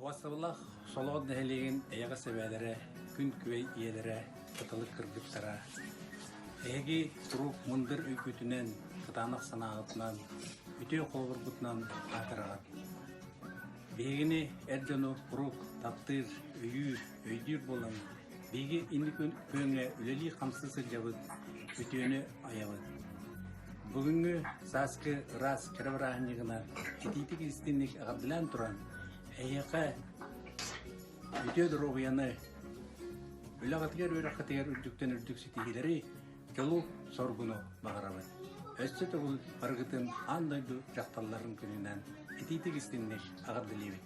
Васылах Солоҕон нэһилиэгин эйэҕэс эбээлэрэ, күн күэй ийэлэрэ кытылык кыргыттара, эһиги куруук мындыр өйгүтүнэн, кытаанах санааҕытынан, үтүө холобургутунан аатыраҕын. Биһигини эр дьону куруук таптыыр, өйүүр, өйдүүр буолаҥҥын. Биһиги инники күөҥҥэ үлэлии-хамсыы сылдьабыт, үтүөнү айабыт. Бүгүҥҥү сааскы ыраас кэрэ бырааһынньыгынан итиитик истинник эҕэрдэлээн туран, эһиэхэ үтүө доруобуйаны, үлэҕитигэр-үөрэххитигэр үрдүктэн үрдүк ситиһиилэри, чолу соргуну баҕарабыт. Өссө төгүл барыгытын аан дойду дьахталларын күнүнэн итиитик истинник эҕэрдэлиибит.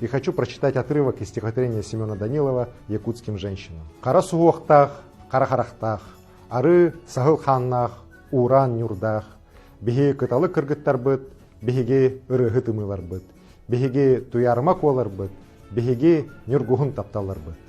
И хочу прочитать отрывок из стихотворения Семена Данилова «Якутским женщинам». Хара суһуохтаах, хара харахтаах, ары саһыл хааннаах, уураан ньурдаах, биһиги кыталы кыргыттарбыт, биһиги ырыаһы тымыыларбыт, биһиги туйарма куоларбыт, биһиги ньургуһун тапталларбыт.